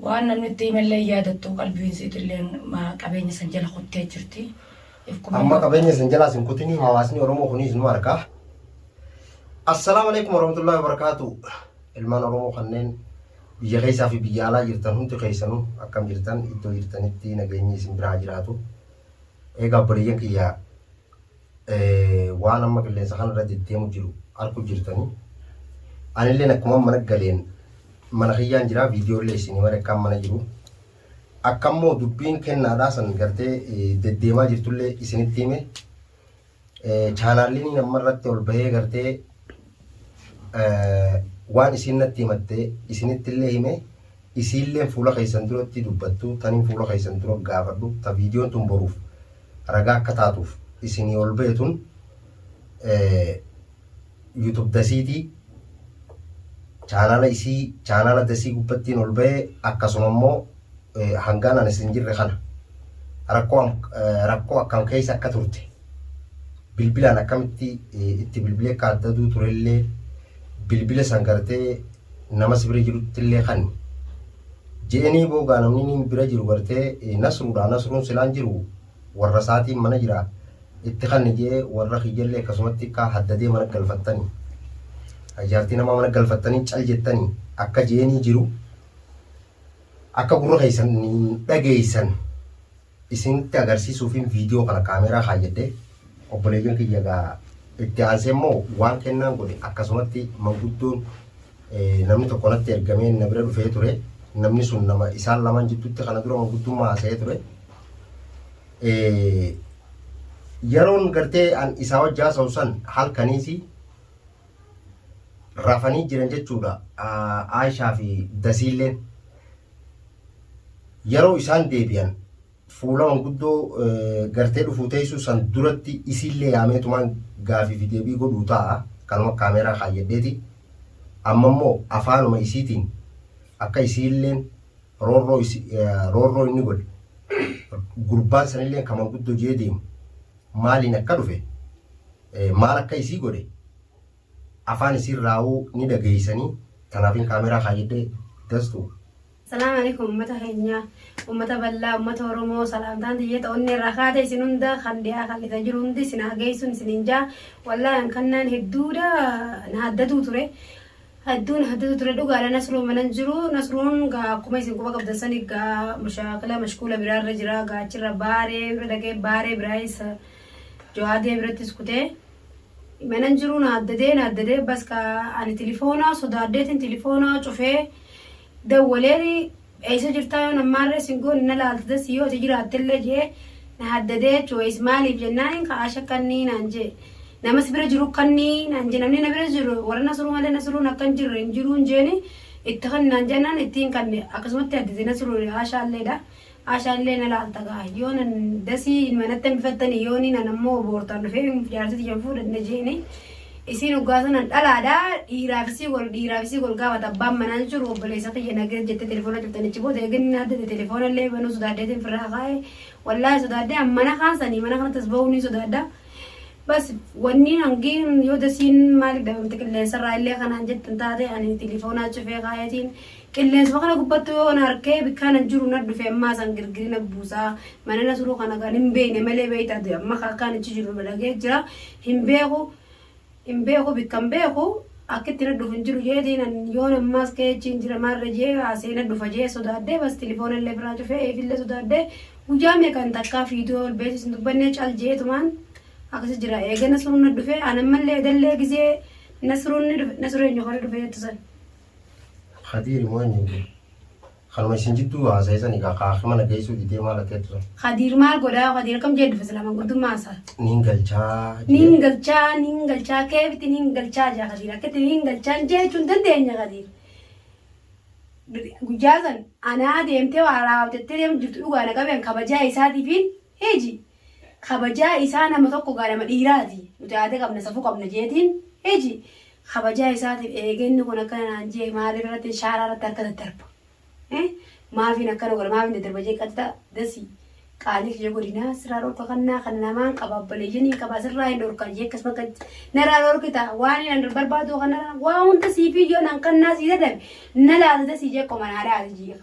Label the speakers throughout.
Speaker 1: Waan namni itti himellee hin yaadattu, qalbiin isiitilleen ma qabeenya san jala kuttee jirti. If qubee Amma
Speaker 2: qabeenya isin jalaas hin kutinii hawaasni Oromoo kunis nu arga. Assalaamu alaikum warahmatullahi wabarakaatu. Ilmaan Oromoo kanneen biyya keessaa fi biyya alaa jirtan hundi keessanuu akkam jirtan iddoo jirtanitti nageenyi isin biraa jiraatu. Egaa obboleeyyan kiyyaa waan amma qilleensa kana irra deddeemu jiru arku jirtanii anilleen akkuma mana galeen mana kiyyaan jira viidiyoo illee isin himare akkaan mana jiru akka immoo dubbiin kennaadhaa san gartee deddeemaa jirtullee isinitti hime chaanaalliin amma irratti ol bahee gartee waan isiin natti himatte isinitti illee hime isiillee fuula keessan duratti dubbattu taniin fuula keessan dura gaafadhu ta viidiyoon tun boruuf ragaa akka taatuuf isinii ol ba'e tun YouTube dasiiti chaanaala isii chaanaala dasii gubbattiin ol ba'e akkasuma immoo hangaan anis hin jirre kana rakkoo rakkoo akkam keessa akka turte bilbilaan akkamitti itti bilbilee akka adda aduu turellee bilbila san gartee nama sibira jirutti illee kan Je'enii boogaa namni niin bira jiru gartee nasruudhaa nasruun silaan jiru warra isaatiin mana jira itti kanni je'ee warra kiyyallee akkasumatti kaa haddadee mana galfattani jaartii namaa mana galfattanii cal jettanii akka je'enii jiru akka gurra keessan hin dhageessan isinitti agarsiisuufin video kana camera kaayyadhe. Obboleeyyan kiyya egaa itti aansee immoo waan kennaan godhe akkasumatti manguddoon namni tokko natti ergamee na bira dhufee ture. Namni sun nama isaan lamaan jidduutti kana dura manguddummaa haasa'ee ture. Yeroon gartee an isaa wajji haasa'u san halkaniisi rafanii jiran jechuudha Aayishaa fi Dasiilleen. Yeroo isaan deebi'an fuula manguddoo gartee dhufuu teessuu san duratti isiillee yaameetumaan gaafii fi deebii godhuu ta'a kanuma kaameeraa kaayyadheeti. Amma immoo afaanuma isiitiin akka isiilleen roorroo roorroo inni godhe gurbaan sanillee kan manguddoo jee deemu maaliin akka dhufe Maal akka isii godhe afaan isiirraahuu ni dhageessanii tanaafin kaameeraa kaayyadhe Dastu. Salaam Aleykum
Speaker 3: ummata keenya ummata ballaa ummata oromoo salaamtaan tiyya ta onnee irraa kaate isin hunda kan dhiyaa kan dhisa jiru hundi isin haa geessun isinin jaa wallahi an kannaan hedduudha na haddatuu ture hedduu na haddatuu ture dhugaadha nasruu manan jiru nasruun gaa akkuma isin quba qabdan sani gaa mashaakila mashkuula biraa irra jira gaa achirra baaree irra dhaqee baaree biraa isa Jawaadee birattis kutee manan jiruu na addadee na addadee baska ani tilifoonaa sodaaddeetiin tilifoonaa cufee dawwalee eessa jirtaa yoo nammaarree sin goone na laalta dassi yoo ati jiraattellee jee na haddadee jechuudha maaliif jennaan ka'aa shakkannii naan jee namas bira jiru kannii naan jee namni na bira jiru warra nasruu malee nasruun akka hin jirre hin jiruun jeeni itti kan naan jennaan ittiin kanne akkasumatti haddadee nasruun haashaalleedha Asha illee na laalta gaa yoo nan dasii manatti hambifattanii yoo ni nan ammoo boortaan dhufee jaartii tiyyan fuudhan na jeeni isiin hoggaa sanan dhalaadha dhiiraafisii gol dhiiraafisii gol gaafata abbaan manaan jiru obboleessa kiyya nageet jettee telefoona cuftan achi booda eegin na addate telefoona illee banuu sodaaddeetiin firraa kaa'e wallaahi sodaaddee an mana kaasanii mana kanatti as ba'uu ni sodaadda bas wanni hangiin yoo dasiin maaliif dhabamte qilleensarraa illee kanaan jettan taate ani telefoonaa cufee kaa'eetiin Qilleensuma kana gubbattu yoo na harkee bikkaa nan jiru na dhufe ammaa san girgiri na buusaa mana na suruu kana kan hin beeyne malee beeyta ati amma ka akkaan achi jiru balagee jira hin beeku hin beeku bikkan beeku akkitti na dhufu hin jiru jeetiin an yoon ammaas ka'ee achiin jira maarra jee haasee na dhufa jee sodaadhee bas tilifoona illee biraa cufee eefillee sodaadhee guyyaa meeqan takkaa fiidoo ol beesis hin dubbannee cal jeetumaan akkasi jira eegana suruu na dhufe an ammallee edallee gizee na suruun ni dhufe na suree nyokoree dhufe jettu san.
Speaker 2: Kadiiri moo eenyu jedhe? Kanuma isin jidduu haasa'e sani kaa kaa mana geessuu didee maal ati jettu san. Kadiir maal godhaa
Speaker 3: kadiir akkam jee dhufe silaa manguddummaa isaa. Niin galchaa
Speaker 2: Niin jedhee. galchaa niin
Speaker 3: galchaa keefiti niin galchaa jaa kadiir akkatti niin galchaan jechuun dandeenya kadiir. Guyyaa san anaa deemtee waa raawwatettee deemu jirtu dhugaa na qabeen kabajaa isaatiifiin Hiji. Kabajaa isaa nama tokko gaa nama dhiiraati. Nuti aada qabna safuu qabna jeetiin. Hiji. Kabajaa isaatiin eegee inni kun akkana naan jee maaliif irratti shaaraa irratti harka daddarba. Eh? Maafiin akkana godha maafiin daddarba jee qaxita dasi qaalii kiyya godhinaa sirraa dhorka kannaa kana namaan qaba abbaleeyyanii qaba sirraa hin dhorka jee akkas bakka narraa dhorkita waan hin barbaadu kanarra waa hunda siifii yoo nan kannaa sii dadabe na laata dasi jee qoma naa laata jee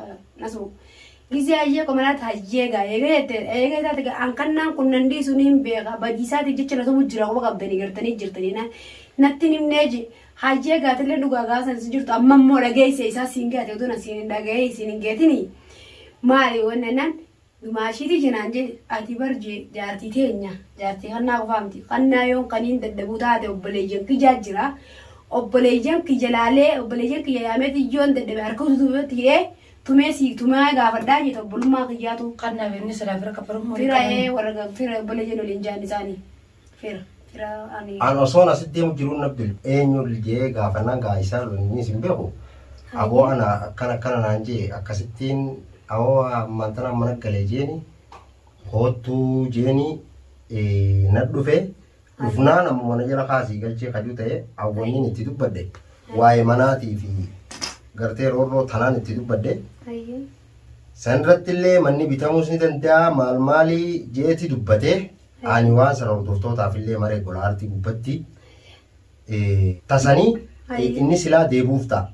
Speaker 3: nasuu. Gizee hayyee qomalaat hayyee gaa eega jette eega taate gaa an kannaan kun nan dhiisu niin beeka badii isaatiif jecha na tumu jira quba qabdanii gartanii jirtanii na natti hin himnee je hayyee gaatillee dhugaa gaa san sin jirtu amma immoo dhageessee isaa siin gaate utuu na siin hin dhaga'ee siin hin geetinii maali wanni annaan dumaashiitii jenaan je ati bar je jaartii teenya jaartii kannaa qofaa miti kannaa yoon kaniin dadhabuu taate obboleeyyan kijaa jira obboleeyyan kiyya laalee obboleeyyan kiyya yaameetii yoon dadhabe harka ututuubeetti hidhee Tumee sii tumaa gaafadhaa jete obbolummaa kiyyaatu. Qannaaf inni silaa fira
Speaker 1: kaffaluuf moo Fira dirqamaan? ee warra ga-
Speaker 3: fira obboleeyyan waliin jaan isaanii. Fira fira ani. An osoon asitti deemu
Speaker 2: jiruun na bil eenyu jee gaafannaan gaa isaa inni isin beeku. Aboo ana akkana akkana naan jee akkasittiin awoo ammaan tana mana galee jeeni koottuu jeeni eh, na dhufe Dhufnaan amma mana jala kaasii galchee kajuu ta'e awwanniin itti dubbadde waa'ee manaatii fi gartee roorroo tanaan itti dubbadde Hayyee. san irratti illee manni bitamuus ni danda'a maal maalii jeeti dubbate ani waan sana hordoftootaaf illee maree gola aartii gubbatti eh, tasanii eh, Hayyee. inni silaa deebuuf ta'a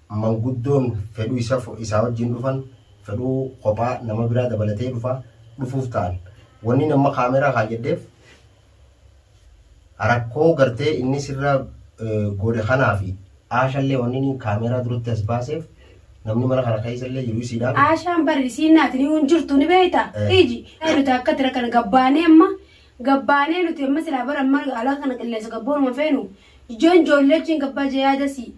Speaker 2: Manguddoon fedhuu isa fo isaa wajjiin dhufan, fedhuu kophaa nama biraa dabalatee dhufa, dhufuuf ta'an. Wanniin amma camera kaayyadheef rakkoo gartee inni sirra goodhe kanaafi. Aashallee wanniin camera duratti as baaseef namni mana kana keessallee jiru isiidhaan. Aashaan bar isiin
Speaker 3: naati niyuu hin jirtu ni beeyta iji. Nuti akkatti rakkan gabbaanee amma gabbaanee nuti amma silaa bar amma alaa kana qilleensa gabboonuma feenu. Ijoon joollee wajjiin gabbaa jee yaadasii.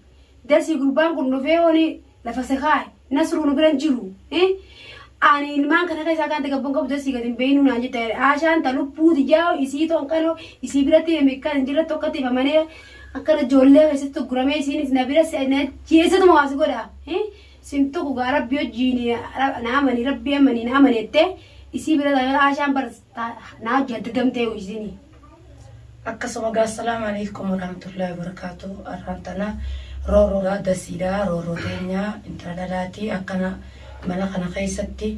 Speaker 3: Dasii gurbaan kun dhufee hooni lafa sekaa nasruu nu biran jiru. Ani ilmaan kana keessaa kan gabbon qabu dasii gadi hin beeknu naan jette haashaan ta lubbuu tiyyaa isii toon qanoo isii biratti hime kan hin jirre tokkotti hifamanii akkana ijoollee keessatti gurguramee isiinis na bira jeessatuma waasi godha. Sin tokko gaa rabbi hojiin naamanii rabbi amanii naamaneette isii bira haashaan barsiisa. Naa jadgamtee uizinii.
Speaker 1: Akkasuma gaa Assalaamu Aleeykum Warahmatullahi Wabarakaatuh Arraan tana Rooroodha Dasiidha Rooroo teenya Intala dhalaati Akkana Mana kana keessatti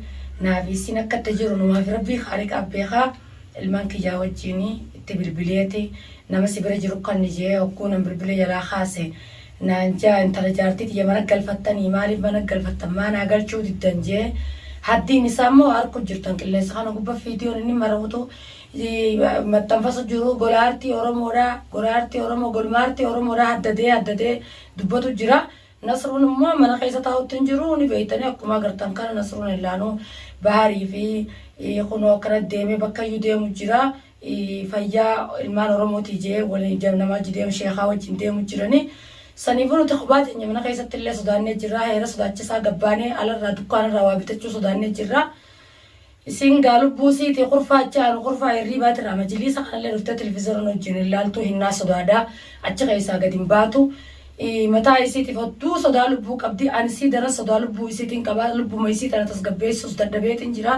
Speaker 1: Naafi issiin akka itti jiru Numaafi Rabbii Khaaliqaa beeka Ilmaan kiyyaa wajjiin itti bilbileeti Nama si bira jiru kanni jee hogguu nan bilbile jalaa kaase naan je'a intala jaartii tiyya mana galfattanii maaliif mana galfattan maa naa galchuu diddan je'e haddiin isaa immoo arku jirtan qilleensa kana gubba fiidiyoon inni maramutu maxxanfasu jiru gola aartii oromoodha gola aartii oromoo golma aartii oromoodha haddadee haddadee dubbatu jira nasruun immoo mana keessa taa'utti hin jiru ni beeytanii akkuma agartan kana nasruun illaanuu bahaarii fi kunoo akkana deemee bakkayyuu deemu jira fayyaa ilmaan Oromootii jee waliin deem namaa wajji deemu sheekaa wajjin deemu jiranii saniifuu nuti kophaa teenya mana keessatti illee sodaannee jirraa heera sodaachisaa gabbaanee alarraa dukkaanarraa waa bitachuu sodaannee jirraa isiin gaa lubbuu isiitii kurfaa achi aanu kurfaa hirriibaatirraa majiliisa kanallee dhuftee televiziyoona nu wajjin hin laaltuu hinnaa sodaadhaa achi keessaa gad hin baatu Ii, mataa isiitiif hodduu sodaa lubbuu qabdi ani isii daran sodaa lubbuu isiitiin qaba lubbuma isii tana tasgabbeessuus dadhabeetiin jira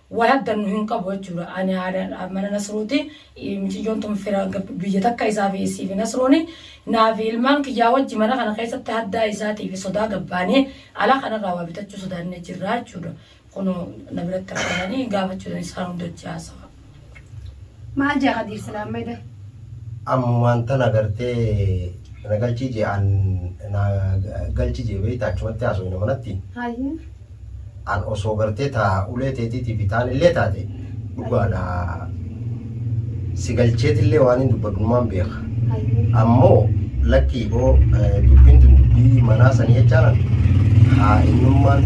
Speaker 1: Waa haggannu hin qabu jechuudha. Ani haadha mana Nasruuti. Miciyyoon tun fira biyya takka isaa fi isii fi Nasruuni. Naa fi ilmaan kiyyaa wajji mana kana keessatti haddaa isaatii fi sodaa gabbaanee ala kanarraa waa bitachuu sodaannee jirra jechuudha. Kunoo na biratti argamanii gaafachuu dandeenyu isaan hunda wajji haasawa.
Speaker 3: Maal jaa Kadiir silaa amma eda? Ammumaan
Speaker 2: tana gartee na galchii jee an na galchi jee beeyta achumatti haasoyna manatti. Hayyee. An osoo gartee taa ulee teetiitiifi taan illee taate dhugaadha si galcheetillee waanin dubbadhumaan beeka. Hayyee. Ammoo lakkii boo dubbiin tun dubbii manaa sanii jechaan haa eenyummaan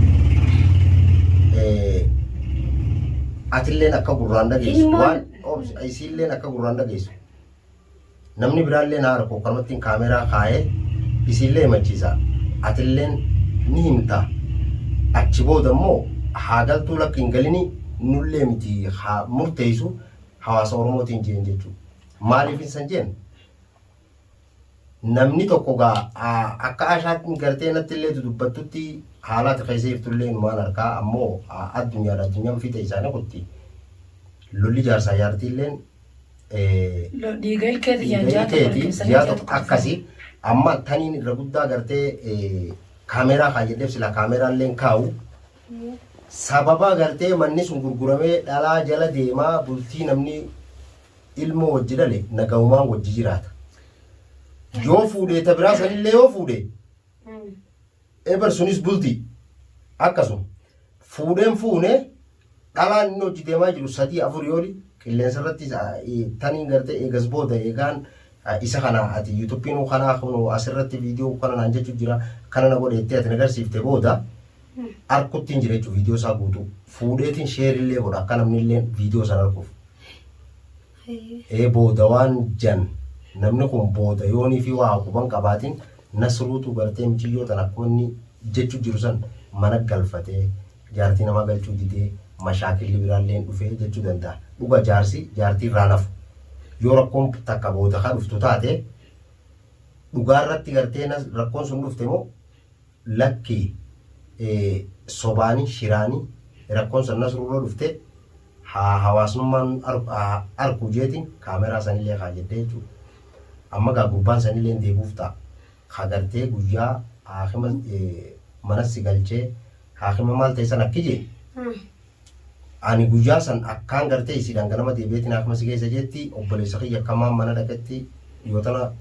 Speaker 2: atilleen akka gurraan dhageessu waan isiilleen akka gurraan dhageessu Namni biraallee naa arku kanumattiin kaameeraa kaayee isiillee himachiisa. Atilleen ni himta. Achi booda immoo haa galtuu lakki hin galini nullee miti haa murteessu hawaasa Oromootiin jeen jechuudha. Maaliif insan jeen? Namni tokko gaa akka ashaatti gartee natti illee dudubbattutti haalaati keessa jirtullee inumaan harkaa ammoo addunyaadha addunyaan fiixa isaanii kutti lolli jaarsaa jaartiilleen
Speaker 1: Dhiiga ilkeeti ji'a dhiiga jaatota ilkeeti walqixxanii ji'a tokko
Speaker 2: jaatota akkasi amma taniin irra guddaa gartee eh, kaameeraa kaa jedheef sila kaameeraa illee hin kaa'u sababa gartee manni sun gurguramee dhalaa jala deemaa bultii namni ilmoo wajji dhale nagahumaan wajji jiraata yoo fuudhee ta biraa sanillee yoo fuudhee Eber sunis bulti akkasuma fuudheen fuune dhalaan inni hojii deemaa jiru sadii afur yooli qilleensa irratti taniin gartee eegas booda eegaan isa kana ati yuutuubiin kana asirratti viidiyoo kana naan jechuun jira kana na godheettee ati nagarsiifte booda arkuttiin jira jechuun viidiyoo isaa guutuu fuudheetiin sheerillee godha akka namnillee viidiyoo sana arguuf. ee booda waan jan namni kun booda yoo inni fi waa quban qabaatin nasruutu gartee miciyyoo tana akkuma inni jechu jiru san mana galfatee jaartii namaa galchuu didee mashaakilli biraalleen dhufee jechu danda'a dhuga jaarsi jaartii irraan hafu yoo rakkoon takka booda ka dhuftu taate dhugaa irratti gartee rakkoon sun dhufte moo lakki sobaani shiraani rakkon san nasrurra dhufte haa hawaasnummaan haa arku jeetin kaameraa sanillee kaa jette jechuu amma gaa gurbaan sanilleen deebuuf taa ka gartee guyyaa haakima manas si galchee haakima maal ta'e san akki jee ani guyyaa san akkaan gartee isiidhaan ganama deebi'eetiin haakima si geessa jeetti obboleessa kiyya akkamaan mana dhaqetti yoo tana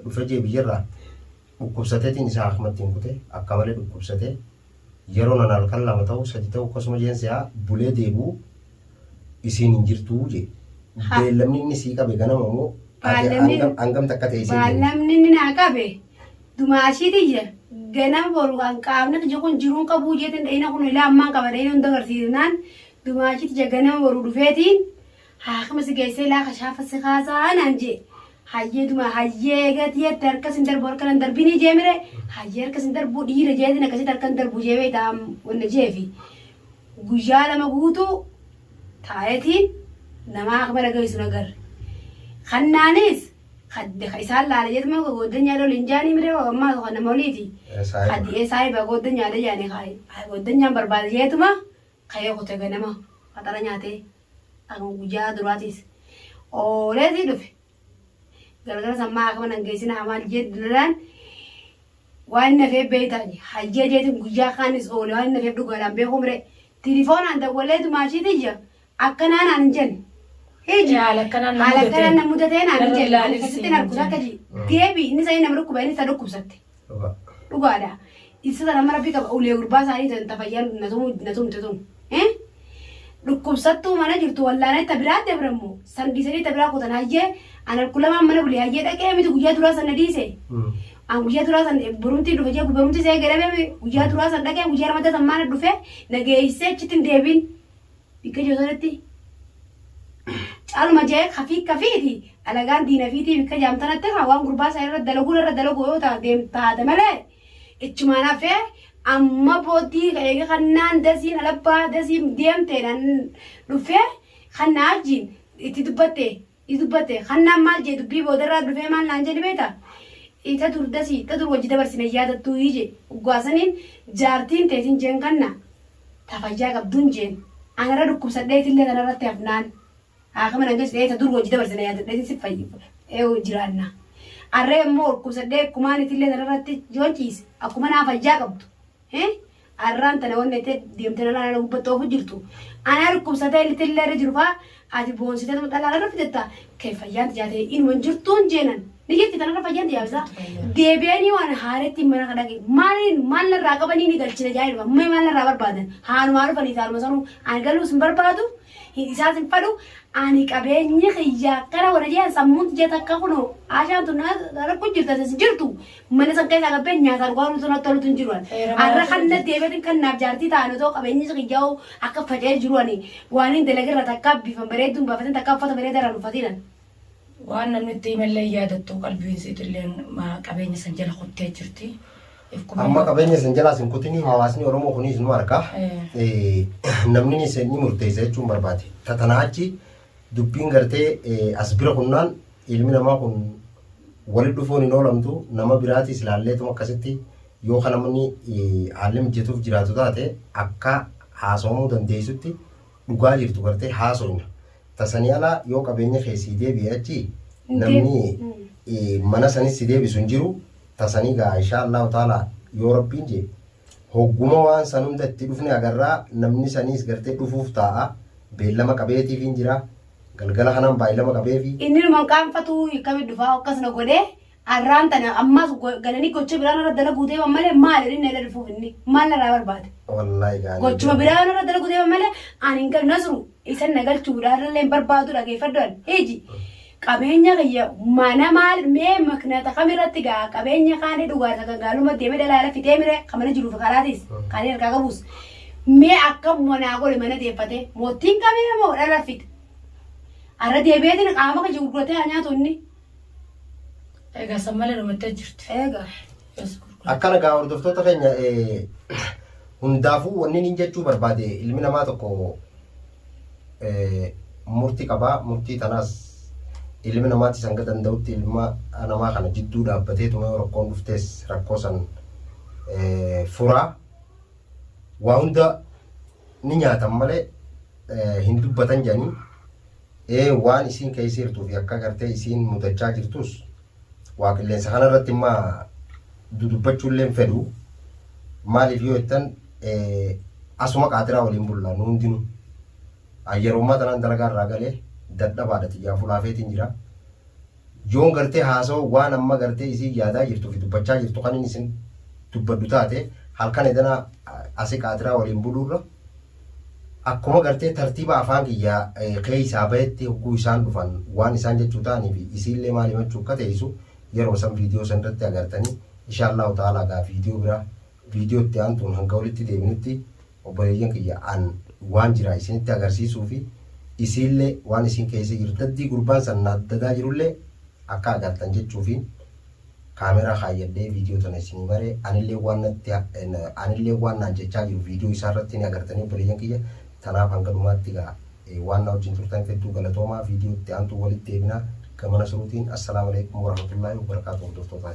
Speaker 2: dhufe jee biyyarraa Dhukkubsatetin isaa akmatti hin kute akka male dhukkubsate yero nan halkan lama ta'u sadi ta'u akkasuma jeen se'a bulee deebi'u isiin hin jirtu je Ha. beellamni inni sii qabe ganama moo Baallamni- hangam- hangam takka ta'e isiin jenna. Baallamni inni naa qabe
Speaker 3: dumaashii tiyya ganama boru kan qaamni tiyya kun jiruun qabuu jeetiin dhayina kun ilaa ammaan qaba dhayina hunda agarsiisnaan dumaashii tiyya ganama boru dhufeetiin Haakima si geessee laaka shaafa si kaasaa naan jee. Hayyee duma hayyee eegeeti jette harkas hin darbu harka nan darbinii jee mire hayyee harkas hin darbu dhiira jeetiin akkasitti harka hin darbu jee beekta am wanna jeefi. Guyyaa lama guutuu taa'eetiin namaa haakima na geessu hin agarre. Kannaanis kadde ka isaan laala jeetu moo gooddanyaa loli hin jaanii mire hoo ammaa tokko nama oliiti. Saahiba. Kaddi ee saahiba gooddanyaadha jaanii kaayi. Haa gooddanyaa hin barbaada jeetuma Kayoo kute ganama faxara nyaatee akuma guyaa duraatiis ooleetii dhufe galgalas ammaa akama nan geesina amaal jeet dilalaan waan inni hafee beeytaa je hayyee jeetin guyaa kaanis oole waan inni hafeef dhugaadhaan beekuu miree tilifoonaan dawwaleetu maashii tiyya akkanaa naan hin jenne hiji Ee, haala akkanaan na haala mudatee. akkanaan na mudatee naan hin Narra jenne ani ilaalinsi akkasittiin hin arguu jenne. takka ji deebi inni sanii nama dhukkuba inni ta dhukkubsatte Dhugaa. dhugaadha isa sana amma rabbi qaba ulee gurbaa isaanii tan tafayyaan na tumu- na tumte tun Eh? dhukkubsattuu mana jirtu wallaanee ta biraa dabrammo san dhiisanii ta biraa kutan hayyee anan kulamaan mana bulee hayyee dhaqee miti guyyaa duraa san na dhiise Mm. an guyyaa duraa san borumtii dhufe jee borumtii see gadhabee guyyaa duraa san dhaqee guyyaa lamadda san maana dhufe na geessee achitti hin deebiin bikka jiru sanatti caaluma ja'ee kafii kafiiti alagaan diina fiitii bikka jaam tanatti haa waan gurbaa isaa irra dalaguun irra dalagu yoo ta'a deem taate malee ichumaan hafee amma booddii eega kannaan dasiin alabbaa dasiin deemteedhaan dhufee kannaa wajjin itti dubbatte i dubbatte hannaan maal jee dubbii boodarraa dhufee maal naan jee ni beekta i ta dur dasi ta dur wajji dabarsine hin yaadattuu i jee oggaa saniin jaartiin teetin jeen kanna ta fayyaa qabduun jeen an irra dhukkubsadheetillee tana irratti hafnaan haakima nan geessu ee ta dur wajji dabarsine yaadadheetin si fayy ee jiraanna arree immoo dhukkubsadhee akkumaan itillee tana irratti yoon ciise akkuma naa fayyaa qabdu hee Arraan tana wanni tee deemtee dhalaa irra gubbatti oofu jirtu. Anaa dhukkubsatee ilti illee irra jiru faa ati boonsitee tuma dhalaa irra fidetta kee fayyaan tijaatee inuma hin jirtuun jeenan. Ni jirti tanarra fayyaan tijaabisaa. Deebi'anii waan haarettiin mana ka dhaqe. Maaliin maal narraa qabanii ni galchina jaa'ee dhufa. Mee maal narraa barbaadan? Haanumaa dhufanii taanuma sanuu. Ani galuus hin barbaadu. Hin isaas hin fadhu. Ani qabeenyi kiyyaa akkana warra jeen sammuun tijaa takka kunoo. Aashaan tun rakku jirta sin jirtu. Mana san keessaa gabbeen nyaata dhugaa nutu natti tolutu hin jiru ani. Arra kan na deebiin kan naaf jaartii ta'an otoo qabeenyi kiyyaa'u akka faca'ee jiru ani waan hin dalagirra takkaa bifan bareedduun baafatin takkaa uffata bareedaa irraan uffatiin ani. Waan
Speaker 1: namni itti himallee yaadattu qalbiin siitilleen qabeenya san jala kuttee jirti. Amma
Speaker 2: qabeenya san jalaas hin kutinii hawaasni Oromoo kunis nu arga. Namni ni murteessa jechuun barbaade. Tatanaa achi Dubbiin gartee as bira kunnaan ilmi namaa kun wali dhufuun hin oolamtu nama biraatiis laalleetuma akkasitti yoo kan namni haalli mijjatuuf jiraatu taate akka haasawamuu dandeessutti dhugaa jirtu gartee haasofna. Tasanii ala yoo qabeenya kee sii deebi'e achi namni mana sanis si deebisu hin jiru. tasanii gaa inshaa Allahu taalaa yoo rabbiin jee hogguma waan san hunda itti dhufne agarraa namni saniis gartee dhufuuf taa'a beellama qabeetiifiin jira galgala kanaan baay'ilama qabeefi Inni ilmaan qaanfatuu
Speaker 3: akkamitti dhufaa akkas na godhee arraan tana ammas go- galanii gocha biraan irra dalaguu deeman malee maal inni na dhufuuf inni maal narraa barbaade wallaahi gaanii gochuma
Speaker 2: biraan irra dalaguu
Speaker 3: deeman malee ani hin qabne nasru Isan na galchuudha har'allee hin barbaadu dhageeffadhu ani. Iji qabeenya kiyya mana maal mee maknata kam irratti gaa qabeenya kaanii dhugaarsa kan gaalumatti deemee dalaala fixee mire kan mana jiruuf karaatis kan inni harkaa qabus. Mee akkam manaa godhe mana deeffatee mootiin qabee moo dhala fixe. Arra deebi'eetiin qaama kiyya gurguratee haa nyaatu inni.
Speaker 1: Egaa san malee dhumattee jirti. Eegaa. Yes,
Speaker 3: gurgura. Akkana
Speaker 2: gaa hordoftoota keenya eh, hundaafuu wanni niin jechuu barbaade ilmi namaa tokko eh, murtii qabaa murtii tanaas ilmi namaatti san gad danda'utti ilma namaa kana jidduu dhaabbatee tuma yoo rakkoon dhuftees rakkoo san eh, furaa waa hunda ni nyaatan malee eh, hin dubbatan jedhanii ee waan isiin keessa jirtuu fi akka gartee isiin mudachaa jirtus waa qilleensa kana irratti imma dudubbachuu illee fedhu maaliif yoo jettan asuma qaatiraa waliin bulla nu hundinu yeroo ammaa tanaan dalagaa irraa galee dadhabaadha xiyyaa fulaafeetiin jira Yoon gartee haasawa waan amma gartee isiin yaadaa jirtuu fi dubbachaa jirtu kanin isin dubbadhu taate halkan edanaa asi qaatiraa waliin buluurra akkuma gartee tartiiba afaan kiyyaa keeysaa bahetti hogguu isaan dhufan waan isaan jechuu ta'anii fi isiillee maal himachuu akka teeysu yeruma san viidiyoo san irratti agartanii inshaallaahu ta'aalaa gaa viidiyoo biraa viidiyoo itti aantuun hanga walitti deebinutti Obboleeyyan kiyya an waan jiraa isinitti agarsiisuufi isiinlee waan isiin keessa jirtu daddii gurbaan san na dadaa jirullee akka agartan jechuufiin kaameeraa kaayyadhee viidiyoo tana isinii maree anillee waan natti anillee waan naan jechaa jiru viidiyoo isaa irratti ni agartanii obboleeyyan kiyya tanaaf hanga dhumaatti gaa waan na wajjin turtaniif hedduu galatoomaa viidiyoo itti aantuu walitti deebinaa gama nasruutiin assalaamu alaikum warahmatullaahi wabarakaatu hordoftootaa